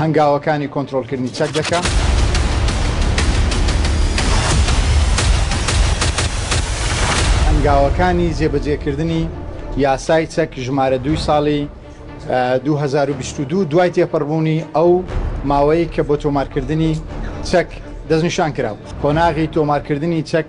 هەنگاوەکانی کۆنترۆڵکردنی چەک دەکەم. هەنگاوەکانی جێبەجێکردنی یاسای چەک ژمارە دوی ساڵی 2022 دوای تێپەڕبوونی ئەو ماوەی کە بۆ تۆمارکردنی چەک دەستنیشان کرا قۆناغی تۆمارکردنی چەک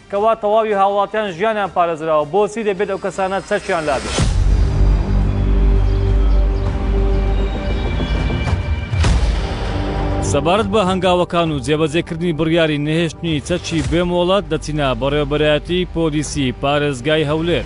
کوا تەواوی هاوڵاتیان ژیانیان پارێزراوە بۆچی دەبێت ئەو کەسانە چەکیان لابێت؟ سەبارەت بە هەنگاوەکان و جێبەجێکردنی بڕیاری نەهێشتنی چەکی بێ مۆڵەت دەچینە بەڕێوەبەرایەتی پۆلیسی پارێزگای هەولێر.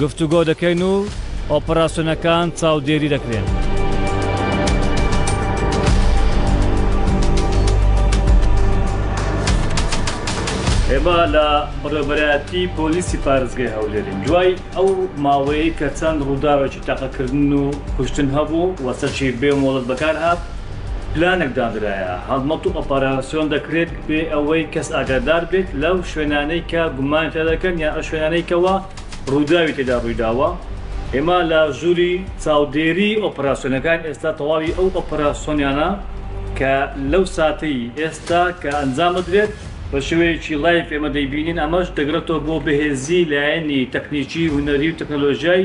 گفتوگۆ دەکەین و ئۆپەراسیۆنەکان چاودێری دەکرێن. ئێمە لە بەڕێوەبەرایەتی پۆلیسی پارێزگای هەولێرین، دوای ئەو ماوەیەی کە چەند ڕووداوێکی تەقەکردن و کوشتن هەبوو و سەرچیر بێ مۆڵەت بەکارهات، پلانێک دانرایە، هەڵمەت و ئۆپەراسیۆن دەکرێت بێ ئەوەی کەس ئاگادار بێت لەو شوێنانەی کە گومانی تیا دەکەن یان ئەو شوێنانەی کەوا ڕووداوی تێدا ڕوویداوە. ئێمە لە ژووری چاودێریی ئۆپەراسیۆنەکان ئێستا تەواوی ئەو ئۆپەراسیۆنیانە کە لەو ساتەی ئێستا کە ئەنجام ئەدرێت بە شێوەیەکی لایڤ ئێمە دەیبینین، ئەمەش دەگرێتەوە بۆ بەهێزیی لایەنی تەکنیکی، هونەری و تەکنەلۆژیای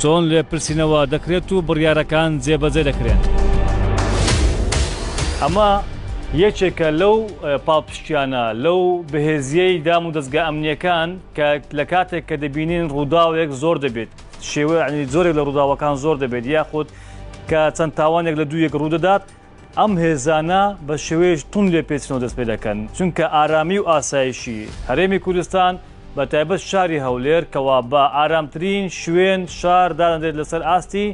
چۆن لێپرسینەوە دەکرێت و بڕیارەکان جێبەجێ دەکرێن؟ ئەمە یەکێکە لەو پاڵپشتیانە لەو بەهێزیەی دام و دەستگا ئەمنیەکان کە لە کاتێک کە دەبینین ڕووداوێک زۆر دەبێت شێوەنی زۆرێک لە ڕووداوەکان زۆر دەبێت یاخود کە چەند تاوانێک لە دوو یەک ڕوودەدات ئەم هێزانە بە شێوەیەکی توند لێپێچنەوە دەست پێ دەکەن، چونکە ئارامی و ئاسایشی هەرێمی کوردستان بە تایبەت شاری هەولێر کەوا بە ئارامترین شوێن، شار، دادەنرێت لەسەر ئاستی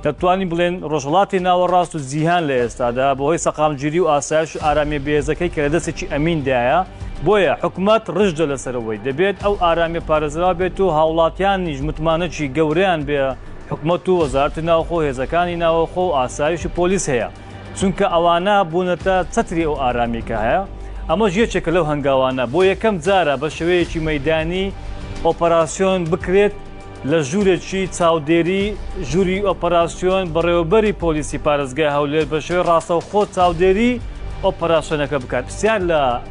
دەتوانین بڵێن ڕۆژهەڵاتی ناوەڕاست و جیهان لە ئێستادا بەهۆی سەقامگیری و ئاسایش و ئارامیە بێهێزەکەی کە لە دەستێکی ئەمیندایە، بۆیە حکومەت ڕژدە لەسەر ئەوەی دەبێت ئەو ئارامیە پارێزراو بێت و هاوڵاتیانیش متمانەکی گەورەیان بە حکومەت و وەزارەتی ناوخۆ و هێزەکانی ناوەخۆ و ئاسایش و پۆلیس هەیە، چونکە ئەوانە بوونەتە چەتری ئەو ئارامیی کە هەیە، ئەمەش یەکێکە لەو هەنگاوانە بۆ یەکەم جارە بە شێوەیەکی مەیدانی ئۆپەراسیۆن بکرێت لە ژوورێکی چاودێری ژووری ئۆپەراسیۆن بەڕێوەبەری پۆلیسی پارێزگای هەولێر بە شێوەی ڕاستەوخۆ چاودێری ئۆپەراسیۆنەکە بکات پرسیار لە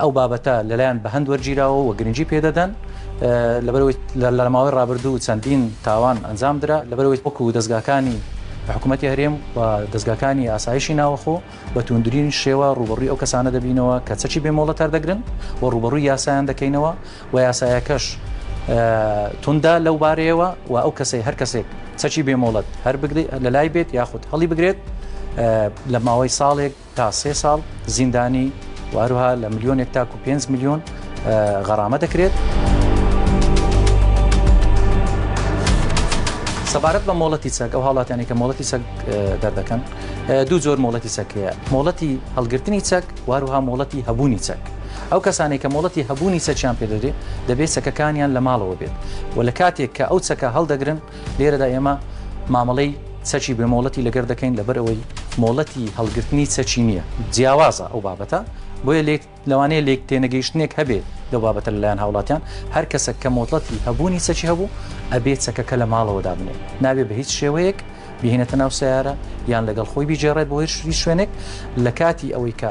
ئەو بابەتە لەلایەن بەهەند وەرگیراوە و گرنگی پێدەدەن لەبەرەوەی لەرماوەی ڕابردوو چەندین تاوان ئەنجام درا لەبەرەوەی وەکو و دەستگاکانی حکوومەتتی هەرێم و دەستگاکانی ئاسایشی ناوەخۆ بە توندرین شێوە ڕوبڕی ئەو کەسانە دەبینەوە کە چەکی بێمۆڵە تەردەگرن و ڕوبڕووی یاسایان دەکەینەوە و یاسایەکەش توندا لەو بارەیەوە و ئەو کەسەی هەر کەسێک چەکی بێمۆڵەت هەر بگری لە لای بێت یاخود هەڵی بگرێت لە ماوەی ساڵێک تا سێ ساڵ زیندانی و هەروها لە ملیۆنێک تاکو پێنج ملیۆن غەڕامە دەکرێت. سەبارەت بە مۆڵەتی چەک ئەو هاڵاتیانی کە مۆڵەتی چەک دەردەکەن دوو زۆر مۆڵەتی چەکەیە مۆڵەتی هەڵگرتنی چەک واروها مۆڵەتی هەبوونی چەک ئەو کەسانێک کە مۆڵەتی هەبوونی چەکیان پێدەێت دەبێت چەکەکانیان لە ماڵەوە بێت و لە کاتێک کە ئەو چەکە هەڵدەگرن لێرەدا ئێمە مامەڵەی چەکی بێ مۆڵەتی لەگەر دەکەین لەبەر ئەوەی مۆڵەتی هەڵگرتنی چەکی نییە جیاوازە ئەو بابەتە بۆیە لێک لەوانەیە لێک تێنەگەیشتنێک هەبێ دە بابەتە لەلایەن هاوڵاتیان هەر کەسە کە مۆتڵەتی هەبوونی چەکی هەبوو ئەبێ چەکەکە لە ماڵەوە دابنێ نابێ بە هیچ شێوەیەک بهێنێتە ناو سیارە یان لەگەڵ خۆی بگێڕێت بۆ هێرشری شوێنێک لە کاتی ئەوەی کە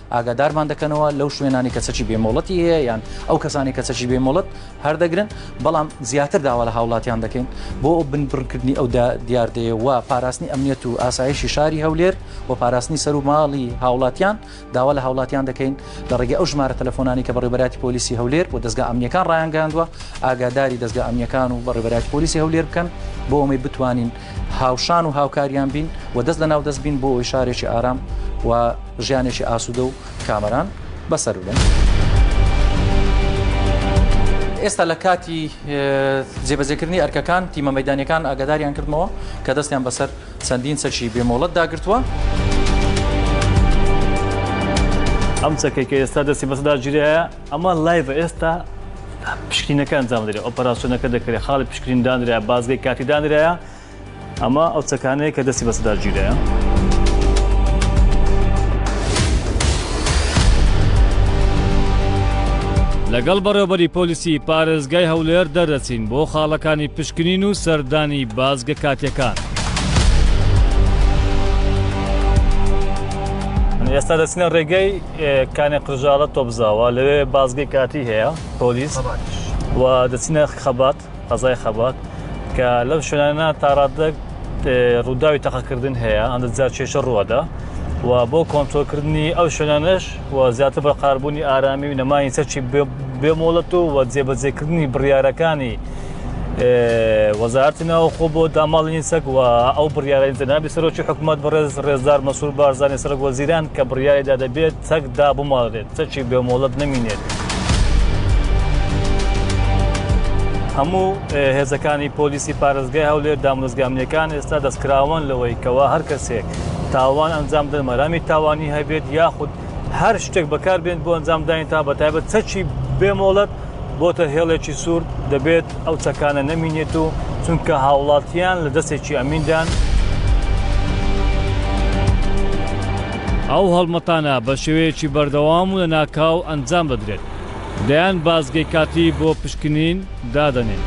ئاگادارمان دەکەنەوە لەو شوێنانی کە چەکی بێ مۆڵەتی هەیە یان ئەو کەسانی کە چەکی بێ مۆڵەت هەردەگرن بەڵام زیاتر داوا لە هاوڵاتیان دەکەین بۆ ئەو بنبڕکردنی ئەو دیاردەیە و پاراستنی ئەمنیەت و ئاسایشی شاری هەولێر و پاراستنی سەر و ماڵی هاوڵاتیان داوا لە هاوڵاتیان دەکەین لە ڕێگە ئەو ژمارە تەلەفۆنانی کە بەڕێبەراتی پۆلیسی هەولێر و دەستگا ئەمنیەکان ڕایانگەاندوە ئاگاداری دەستگا ئەمنیەکان و بەڕێبەراتی پۆلیسی هەولێر بکەن بۆ ئەوەی بتوانین هاوشان و هاوکاریان بین و دەست لە ناو دەست بین بۆ ئەوی شارێکی ئارام و ژیانێکی ئاسوودە و کامەران بەسەر بن. ئێستا لە کاتی جێبەجێکردنی ئەرکەکان تیمە مەدانەکان ئاگاداریان کردمەوە کە دەستیان بەسەر چەندین چەکی بێمۆڵەت داگرتووە. ئەم چەکێکە ئێستا دەستی بەسەدا گیرەیە ئەمە لایڤە ئێستا پشکینەکە ئەنجام درێ ئۆپەراسسیۆنەکە دەکرێت خاڵی پشکرین دانرا بازگەی کاتی دانرایە ئەمە ئەو چەکانەیە کە دەستی بەسەدا گیرەیە. لەگەڵ بەڕێوبەری پۆلیسی پارێزگای هەولێر دەردەچین بۆ خاڵەکانی پشکنین و سەردانی بازگە کاتیەکان. ئێستا دەچنە ڕێگەی کانێ قرژاڵە تۆپزاوە لەوێ بازگەی کاتی هەیە پۆلیس و دەچینە خەبات قەزای خەبات کە لەم شوێنانە تاڕادەک ڕووداوی تەقەکردن هەیە ئەندە جار کێشە ڕوەدا و بۆ کۆنتۆکردنی ئەو شوێنانەش و زیاتر بە قاربوونی ئارامی و نەمانی سەرچی بێمۆڵەت و وە جێبەجێکردنی بڕیارەکانی وەزارتی ناوخۆ بۆ داماڵینی سەگ و ئەو بڕیارەی جەنابی سەرۆکی حکوومەت بەڕێز ڕێزدار مەسوور بارزانانی سەرک وەزیران کە بڕیاریدا دەبێت چەک دابماڵێت چەکی بێمۆڵەت نمینێت. هەموو هێزەکانی پۆلیسی پارێزگای هەولێر دامۆزگامنیەکان ئێستا دەستکراوان لەوەی کەوا هەر کەسێک تاوان ئەنجام دەن مەرامی تاوانی هەبێت یاخود هەر شتێک بەکاربێن بۆ ئەنجامدانی تا بە تایبەت چەکی بێمۆڵەت بۆتە هێڵێکی سوور دەبێت ئەو چەکانە نەمینێت و چونکە هاوڵاتیان لە دەستێکی ئەمیندان. ئەو هەڵمەتانە بە شێوەیەکی بەردەوام و لە ناکاو ئەنجام دەدرێت دەیان بازگەی کاتی بۆ پشکنین دادەنێن.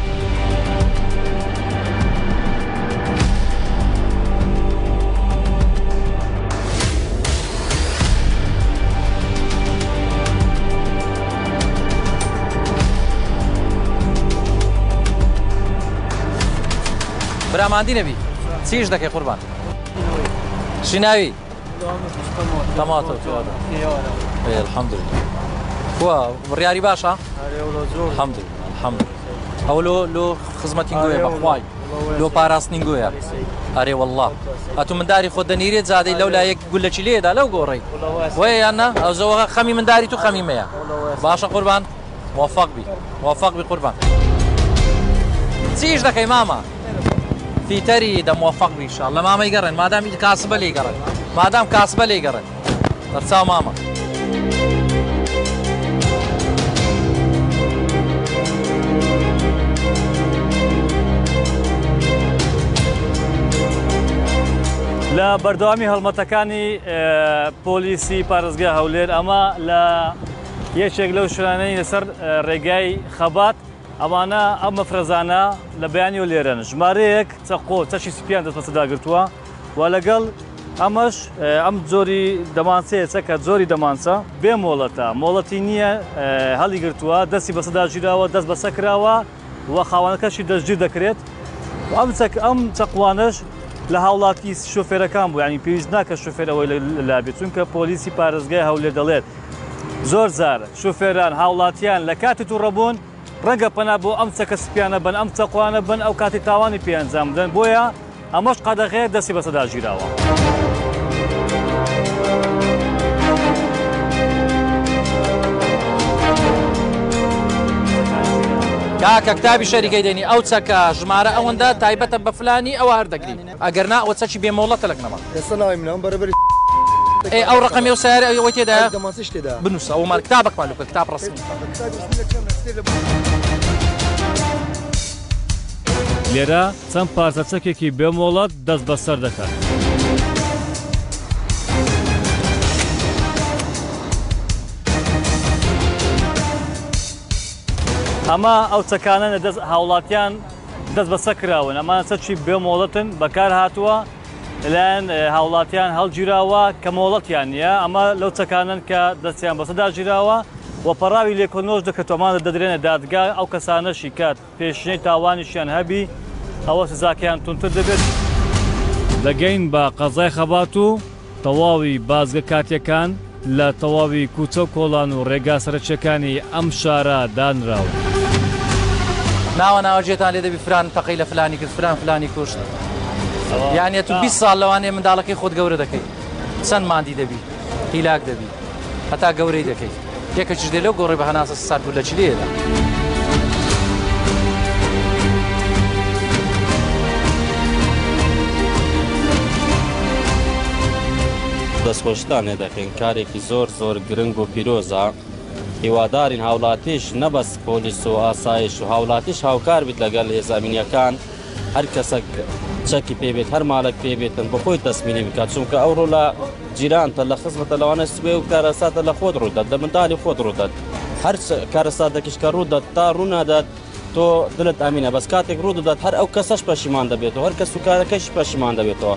براماندی نەبی چیش دەکەی قوربان شیناوی تەماتە الحمد لله بڕیاری باشە الحمد لله الحمد لله ئەو لۆ لۆ خزمەتی گوێ بەخوای لۆ پاراستنی گوێە ئەرێ والله ئەتو منداری خۆ دەنیرێت زادەی لەو لایەک گولە چی لێ ئەدا لەو گۆڕەی وەیە یان نا ئەوزەوە خەمی منداری تو خەمی مەیە باشە قوربان موفق بی موفق بی قوربان چی ئیش دەکەی مامە فیتەری دە موفق بی ان شاء اللە مامەی گەڕێن مادام کاسبە لێی گەڕێن مادام کاسبە لێی گەڕێن بەرچاو مامە لە بەردەوامی هەڵمەتەکانی پۆلیسی پارێزگای هەولێر ئەمە لە یەکێک لەو شوێنانەی لەسەر ڕێگای خەبات ئەمانە ئەم مەفرەزانە لە بەیانی و لێرەن ژمارەیەک چەقۆ چەشی سپیان دەستبەسەرداگرتووە و لەگەڵ ئەمەش ئەم جۆری دەمانچەیە چەکە جۆری دەمانچە بێ مۆڵەتە مۆڵەتی نییە هەڵی گرتووە دەستی بەسەدا ژیراوە دەست بەسە کراوە و خاوانەکەشی دەستگیر دەکرێت ئەم چەک ئەم چەقوانش لە هاوڵاتی شوفێرەکان بوو ینی پێویست ناکە شوفێرەوەی لابێت چونکە پۆلیسی پارێزگای هەولێ دەڵێت زۆر زار شوفێران هاوڵاتیان لە کاتی تووڕەبوون ڕەنگە پەنا بۆ ئەم چەکە سپیانە بەن، ئەم چەقوانە بەن ئەو کاتی تاوانی پێ ئەنجام بدەن، بۆیە ئەمەش قەدەغەیە دەستی بە سەدا گیراوە. کاکە کتابی شەریکەی دەنی ئەو چەکە ژمارە ئەوەندە تایبەتە بە فلانی ئەوە هەر دەگری. ئەگەر نا ئەوە چەکی بێ مۆڵەتە لە گنەما. ئێستا ناوی منە ئەم بەرەبەری ئێ ئەو ڕەقەمی ئەو سەیارە ئەی ئەوەی تێدایە؟ ئەی دەمانچەش تێدا بنووسە ئەومان کتابەکمان لە بکە کتاب ڕەسمی. لێرە چەند پارچە چەکێکی بێ مۆڵەت دەست بەسەر دەکەن. ئەمە ئەو چەکانەن لە دەست هاوڵاتیان دەست بەسەر کراون، ئەمانە چەکی بێ مۆڵەتن، بەکار هاتووە، لەلایەن هاوڵاتیان هەڵگیراوە کە مۆڵەتیان نییە، ئەمە لەو چەکانەن کە دەستیان بەسەردا گیراوە و پەڕاوی لێکۆنۆش دەکرێتەوە، ئەمانە دەدرێنە دادگا، ئەو کەسانەشی کە پێشینەی تاوانیشیان هەبی ئەوە سزاکەیان توندتر دەبێت. دەگەین بە قەزای خەبات و تەواوی بازگە کاتییەکان لە تەواوی کوچە و کۆڵان و ڕێگا سەرەکییەکانی ئەم شارە دانراون. ناوە ناوە جێتان لێ دەبی فلان تەقەی لە فلانی کرد فلان فلانی کوشت یان یە تو بیست ساڵ لەوانەیە منداڵەکەی خۆت گەورە دەکەی چەند ماندی دەبی هیلاک دەبی هەتا گەورەی دەکەی یەکەکیش دێ لەو گۆڕی بە هەناسە سارد و لە چلێدا. دەستخۆشتان لێ دەکەین کارێکی زۆر زۆر گرنگ و پیرۆزە هیوادارین هاوڵاتیش نەبەست پۆلیس و ئاسایش و هاوڵاتیش هاوکار بیت لەگەل هێزامینیەکان هەر کەسەک چەکی پێ بێت هەر مالک پێ بێتن بە خۆی تەسمیلی بکات چونکە ئەو ڕۆ لە جیرانتە لە خزمەتە لەوانە سوێ و کارەساتە لە خۆت ڕوودات لە مندالی خۆت ڕوودات هەر کارەساتێکیش کە ڕوودات تا ڕوونادات تۆ دلت ئەمینە بەس کاتێک ڕوو دەدات هەر ئەو کەسەش پەشیمان دەبێتەوە هەر کەس و کارەکەش پەشیمان دەبێتەوە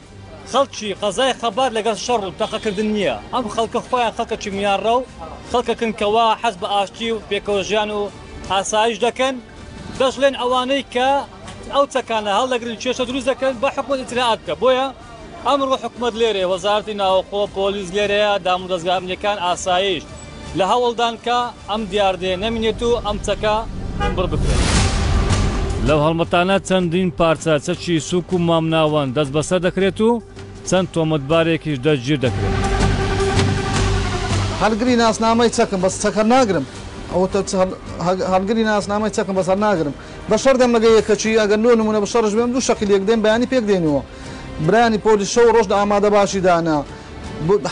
خەڵکی قەزای خەبات لەگەڵ شەڕ و تەقەکردن نییە، ئەم خەڵکە خۆیان خەڵکێکی میانڕە و خەڵکێکن کەوا حەز بە ئاشتی و پێکەوەژیان و ئاسایش دەکەن، دەشڵێن ئەوانەی کە ئەو چەکانە هەڵدەگرن کێشە دروست دەکەن بە حکومەت ئیتلاعات بکە بۆیە ئەمڕۆ حکومەت لێرەیە وەزارەتی ناوخۆ پۆلیس لێرەیە دامودەزگا ئەمنیەکان ئاسایش لە هەوڵدان کە ئەم دیاردەیە نەمینێت و ئەم چەکە بڕ بکرێت. لەو هەڵمەتانە چەندین پارچە چەکی سووک و مامناوەند دەستبەسەر دەکرێت و چەند تۆمەتبارێکیش دەستگیر دەکرێن. هەڵگری ناسنامەی چەکم بەس چەکە هەڵناگرم. بە شەڕ دەم مەگە یەکەچی ئەگەر لۆ نمونە بە شەڕش بێم دوو شەقی لێک دەین بەیانی پێک دەینەوە برایانی پۆلیس شەو و ڕۆژ لە ئامادە باشی دانە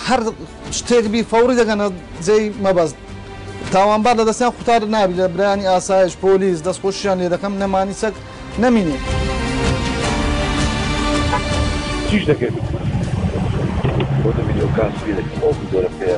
هەر شتێک بی فەوڕی دەگەنە جێی مەبەست تاوانبار لە دەستیان قوتار نابی لە برایانی ئاسایش پۆلیس دەستخۆشیان لێ دەکەم نەمانی چەک نەمینێ. چیش دەکەی بۆ دەبی لەو کاسبی دەکەی ئەو زۆرە پێە.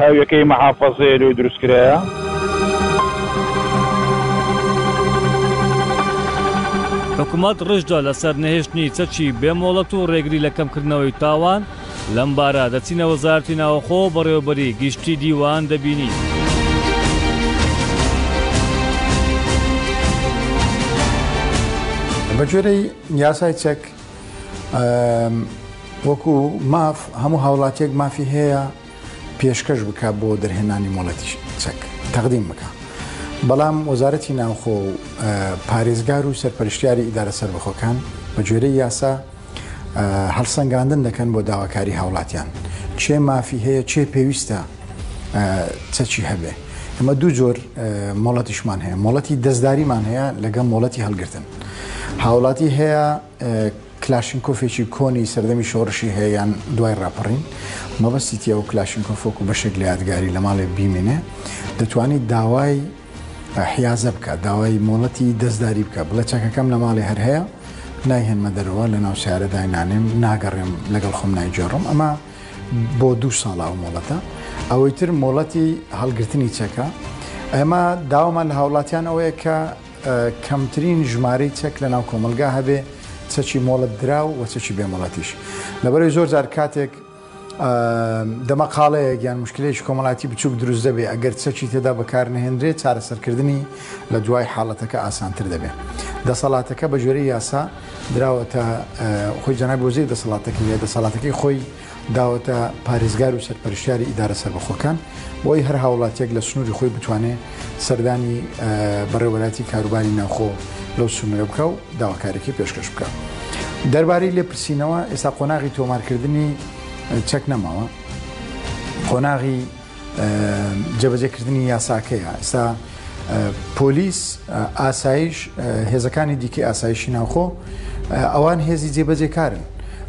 هاویەکەی مەحافەزەیە لۆی دروست کرایە. حکومەت ڕژدە لەسەر نەهێشتنی چەکی بێ مۆڵەت و ڕێگری لە کەمکردنەوەی تاوان، لەم بارە دەچینە وەزارەتی ناوەخۆ و بەڕێوەبەری گشتی دیوان دەبینین. بەگوێرەی یاسای چەک، وەکو ماف هەموو هاوڵاتیەک مافی هەیە پێشکەش بکە بۆ دەرهێنانی مۆڵەتی چەک تەقدیم بکە بەڵام وەزارەتی ناوخۆ و پارێزگار و سەرپەرشتیاری ئیدارە سربەخۆکان بە گوێرە یاسا هەڵسەنگاندن دەکەن بۆ داواکاری هاوڵاتیان چێ مافی هەیە چێ پێویستە چەچی هەبێ ئەمە دوو جۆر مۆڵەتیشمان هەیە مۆڵەتی دەستداریمان هەیە لەگەڵ مۆڵەتی هەڵگرتن هاوڵاتی هەیە کلاشینکۆفێکی کۆنی سەردەمی شۆڕشی هەیە یان دوای ڕاپەڕین مەبەستی تیا و کلاشینکۆفۆک و بەشێک لە یادگاری لە ماڵێ بیمێنێ دەتوانیت داوای حیازە بکە داوای مۆڵەتی دەستداری بکە بڵێ چەکەکەم لە ماڵێ هەر هەیە نایهێنمە دەرەوە لە ناو سیارە داینانێم ناگەڕێم لەگەڵ خۆم نایجێڕم ئەمە بۆ دو ساڵا و مۆڵەتە ئەوەی تر مۆڵەتی هەڵگرتنی چەکە ئەمە داوامان لە هاوڵاتیان ئەوەیە کە کەمترین ژمارەی چەک لەناو کۆمەلگا هەبێ چەکی مۆڵەت دراو و چەکی بێ مۆڵەتیش لەبەرەی زۆر جار کاتێک دەمەقاڵەیە گیان مشکلێکی کۆمەڵاتی بچوک دروست دەبێ ئەگەر چەکی تێدا بەکار نهێنرێت چارەسەرکردنی لە دوای حاڵەتەکە ئاسانتر دەبێت دەسەڵاتەکە بە جۆری یاسا دراوەتە خۆی جەنابۆزی دەسەڵاتەکە یە دەسەڵاتەکەی خۆی داوەتە پارێزگار و سەرپەرشتیاری ئیدارە سەربەخۆکان بۆی هەر هاوڵاتیەک لە سنووری خۆی بتوانێ سەردانی بەڕێوەراتی کاروباری ناوخۆ لەو سنوورە بکە و داواکارێکی پێشکەش بکە دەربارەی لێپرسینەوە ئێستا قۆناغی تۆمارکردنی چەک نەماوە قۆناغی جێبەجێکردنی یاساکەیە ئێستا پۆلیس ئاسایش هێزەکانی دیکەی ئاسایشی ناوخۆ ئەوان هێزی جێبەجێکارن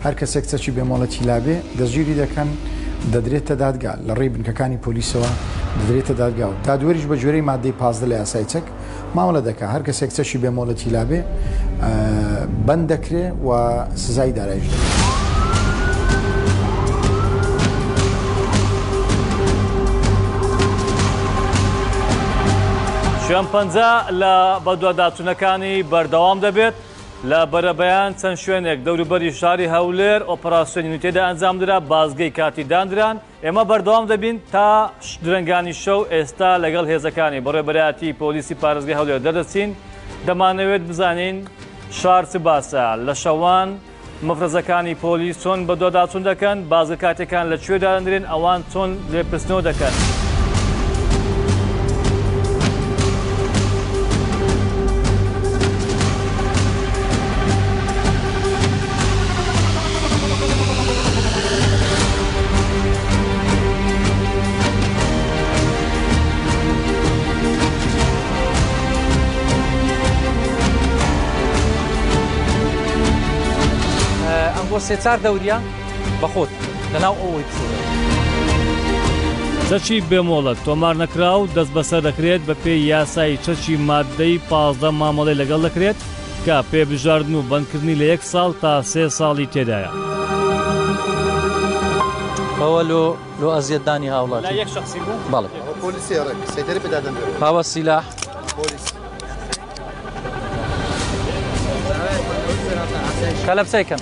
هەر کەسێک چەکی بێمۆڵەتی لابێ دەژگیری دەکەن دەدرێتە دادگا لە ڕێی بنکەکانی پۆلیسەوە دەدرێتە دادگا و دادوەریش بە جۆرەی مادەی پازدە لە یاسای چەک مامەڵە دەکا هەر کەسێک چەشی بێ مۆڵەتی لابێ بند دەکرێ و سزای دارایش دەکرێت. شوێن پەنج لە بەدواداچوونەکانی بەردەوام دەبێت لە بەرەبەیان چەند شوێنێک دەوروبەری شاری هەولێر ئۆپەراسسیۆنی نوتێدا ئەنجامدرا بازگەی کاتی دانران ئێمە بەردەوام دەبین تا درەنگانی شەو، ئێستا لەگەڵ هێزەکانی بەڕێوەبەرایەتیی پۆلیسی پارێزگای هەولێر دەردەچین، دەمانەوێت بزانین شار چ باسە، لە شەوان مەفرەزەکانی پۆلیس چۆن بەدواداچوون دەکەن، بازگە کاتییەکان لە کوێ دادەنرێن، ئەوان چۆن لێپرسنەوە دەکەن. ئەمڕۆ سێ چار دەورە بەخۆت لەناو ئەوەی چەکی بێمۆڵەت تۆمار نەکراو دەست بەسەر دەکرێت بە پێی یاسایی چەکی مادەی پازدە مامەڵەی لەگەڵ دەکرێت کە پێ بژاردن و بەندکردنی لە یەک ساڵ تا سێ ساڵی تێدایە. ئەوە لۆ لۆ ئەزیەت دانی هاوڵاتی لا یەک شخصی بوو بەڵێ ئەوە پۆلیسی ڕێک سەیتەری پێ دادەنرێت هاوە سیلاح پۆلیس کەلەپسەی کەم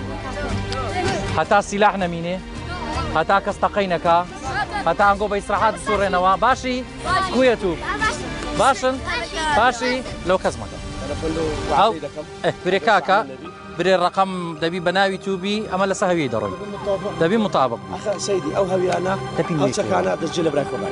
هەتا سیلاح نەمینێ هەتا کەس تەقەی نەکا هەتا ئەنگۆ بە ئیسراحات سوڕێنەوە باشی کوێت و باشن باشی لەو کەس مەکە برێکاکە برێ ڕقم دەبی بە ناوی توبی ئەمە لەسە هەوی دەڕۆی دەبی مطابق ئەو هەویانە دەپی چەکانە دەجێ لە براکەمان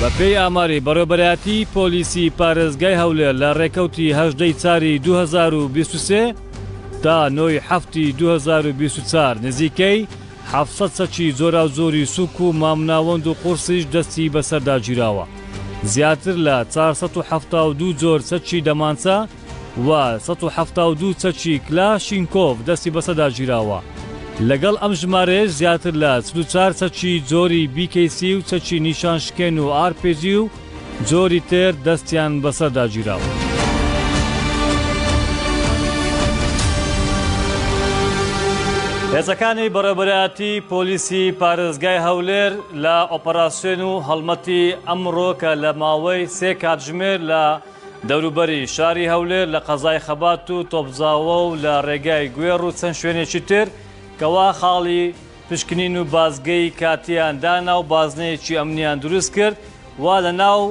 بەپێی ئاماری بەڕێوبەرایەتیی پۆلیسی پارێزگای هەولێر لە رێکەوتی هەژدە ی چاری دوو هەزار و بیست و سێ تا نۆ ی حەفتی دوو هەزار و بیست و چوار نزیکەی حەفت سەد چەکی جۆراوجۆری سووک و مامناوەند و قورسیش دەستی بەسەردا گیراوە. زیاتر لە چار سەد و حەفتا و دوو جۆر چەکی دەمانچە و سەد و حەفتا و دوو چەکی کلاشینکۆف دەستی بەسەردا گیراوە. لەگەڵ ئەم ژمارەیەش زیاتر لە چل و چار چەکی جۆری بی کەی سی و چەکی نیشان شکێن و ئار پی جی و جۆری تر دەستیان بەسەردا گیراوە. هێزەکانی بەڕێوەبەرایەتی پۆلیسی پارێزگای هەولێر لە ئۆپەراسیۆن و هەڵمەتی ئەمڕۆ کە لە ماوەی سێ کاتژمێر لە دەوروبەری شاری هەولێر لە قەزای خەبات و تۆپزاوە و لە ڕێگای گوێڕ و چەند شوێنێکی تر کەوا خاڵی پشکنین و بازگەی کاتییان دانا و بازنەیەکی ئەمنییان دروست کرد و لەناو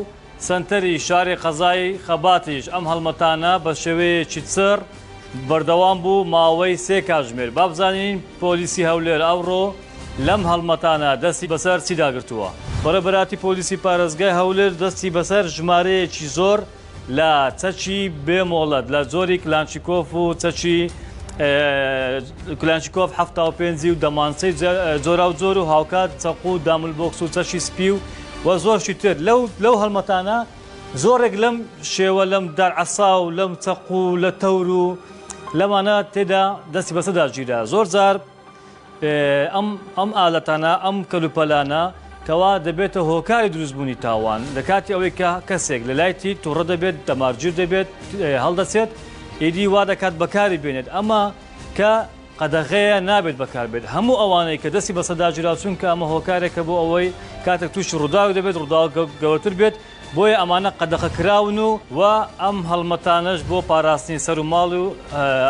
سەنتەری شاری قەزای خەباتیش ئەم هەڵمەتانە بە شێوەیەکی چڕ بەردەوام بوو ماوەی سێ کاتژمێر. با بزانین پۆلیسی هەولێر ئەوڕۆ لەم هەڵمەتانە دەستی بەسەر چیدا گرتووە؟ بەڕێبەراتی پۆلیسی پارێزگای هەولێر دەستی بەسەر ژمارەیەکی زۆر لە چەکی بێ مۆڵەت لە جۆری کلانشیکۆف و چەکی کلانشیکۆف حەفتا و پێنج و دەمانچەی جۆراوجۆر و هاوکات چەقو و داملبۆکس و چەکی سپی و و زۆرشی تر لەو لەو هەڵمەتانە زۆرێک لەم شێوە لەم دار عەسا و لەم چەق و لە تەور و لەمانە تێدا دەستی بەسەدا گیرا زۆر جار ئەم ئەم ئالەتانە ئەم کەلوپەلانە کەوا دەبێتە هۆکاری دروستبوونی تاوان لە کاتی ئەوەی کە کەسێک لە لایتی توڕە دەبێت دەمارگیر دەبێت هەڵدەچێت ئیدی وا دەکات بەکاری بێنێت ئەمە کە قەدەغەیە نابێت بەکاربێت هەموو ئەوانەی کە دەستی بە سەداجرا چونکە ئەمە هۆکارێکە بۆ ئەوەی کاتێک تووشی ڕووداو دەبێت ڕووداو گەورەتر بێت بۆیە ئەمانە قەدەخە کراون و و ئەم هەڵمەتانەش بۆ پاراستنی سەر و ماڵ و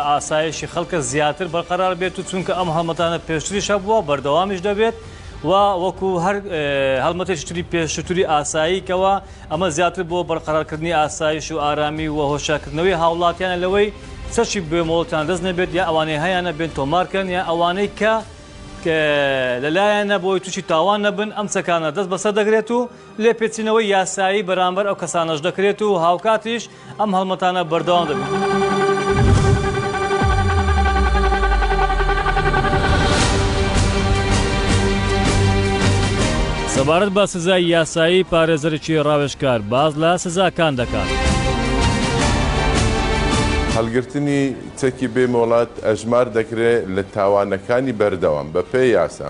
ئاسایشی خەڵکە زیاتر بەرقەرار بێت و چونکە ئەم هەڵمەتانە پێشتریش هەبووە بەردەوامیش دەبێت و وەکو هەر هەڵمەتێکی تری پێشتری ئاساییکەوە ئەمە زیاتر بۆ بەرقەرارکردنی ئاسایش و ئارامی و هۆشیارکردنەوەی هاوڵاتیانە لەوەی چەکی بێ مۆڵەتیان دەست نەبێت یا ئەوانەی هەیانە بێن تۆمارکەن یا ئەوانەی کە لەلایەنە بۆی تووشی تاوان نەبن ئەم چەکانە دەست بەسەر دەگرێت و لێپێچینەوەی یاسایی بەرامبەر ئەو کەسانەش دەکرێت و هاوکاتیش ئەم هەڵمەتانە بەردەوام دەبن. سەبارەت بە سزای یاسایی پارێزەرێکی ڕاوێژکار باز لە سزاکان دەکات. هەڵگرتنی چەکی بێ مۆڵەت ئەژمار دەکرێت لە تاوانەکانی بەردەوام بەپێی یاسا.